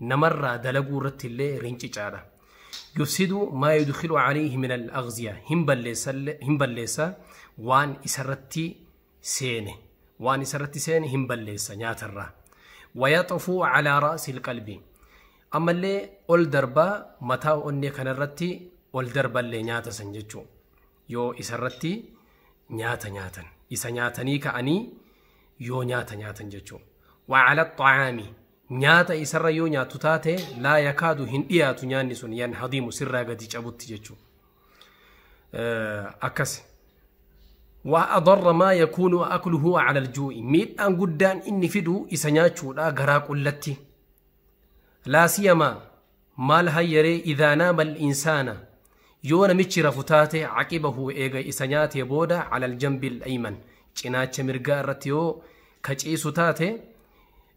namarraa dalaguu irratti illee rincicaadha. Yufsidu maa yudkhilu alayhi min al-aghziya hin balleessa illee- hin balleessa waan isarratti seene waan isarratti seene hin balleessa nyaatarraa. Wayaxufu calaa ra'si qalbi ammallee ol darbaa mataa onnee kanarratti ol darballee nyaata san jechuu yoo isarratti nyaata nyaatan isa nyaatanii ka'anii yoo nyaata nyaatan jechuu. Wacala xacaami nyaata isarra yoo nyaattu taate laa yakaadu hin dhiyaatu nyaanni sun yan hadiimu sirraa gadi cabutti jechuu akkasi waa adarra maa yakuunu akluhu cala aljuu'i miidhaan guddaan inni fidu isa nyaachuudha garaa qullatti laa siyamaa maal hayyaree idaa naama al'insaana yoo namichi rafu taate caqibahu eega isa nyaatee booda cala aljambi al'ayman cinaacha mirgaa irratti yoo ka ciisu taate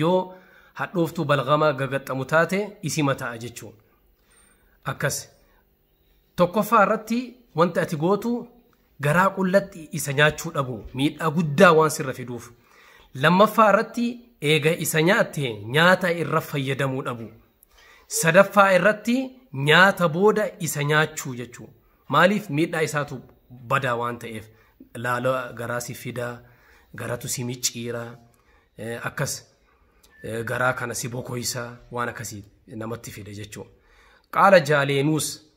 Yoo hadhooftuu balgamaa gagaxxamu taate isima ta'a jechuu. Akkas. Tokkoffaa irratti wanti ati gootu garaa qullatti isa nyaachuu dhabu miidhaa guddaa waan sirra fiduuf. Lammaffaa irratti eega isa nyaatte nyaata irra fayyadamuu dhabu. Sadaffaa irratti nyaata booda isa nyaachuu jechuu. Maaliif miidhaa isaatu badaa waan ta'eef laaloo garaa si fida, garatu si micciira, eh, akkas eh, garaa kana si bokoysa waan akkasii namatti fida jechuu. Qaala jaaleenuus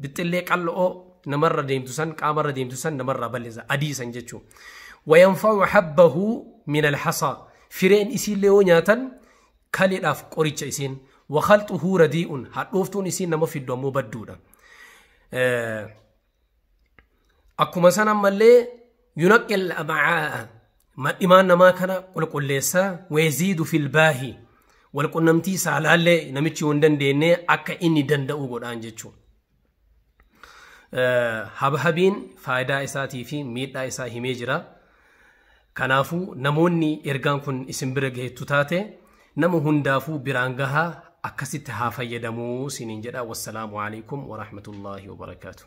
Bixxillee qal'oo namarra deemtu san qaamarra deemtu san namarraa balleessa adii san jechuun. Wayanfa'u habbahu min alhasaa fireen isiillee yoo nyaatan kaleedhaaf qoricha isiin wakhalxuhu radii'un hadhooftuun isiin nama fiddu ammoo badduudha. Akkuma san ammallee yunaqqil ama'aa'a madhimaan namaa kana qulqulleessa weeziidu filbaahi wal qunnamtii saalaallee namichi yoo hin dandeenye akka inni danda'u godhaan jechuudha. Habhabiin faayidaa isaatii fi miidhaa isaa himee jira. Kanaafuu namoonni ergaan kun isin bira gaheettu taate nama hundaafuu biraan gahaa akkasitti haa fayyadamuu siniin jedha. Wassalaamu alaikum wa rahmatullahi wa barakaatuh.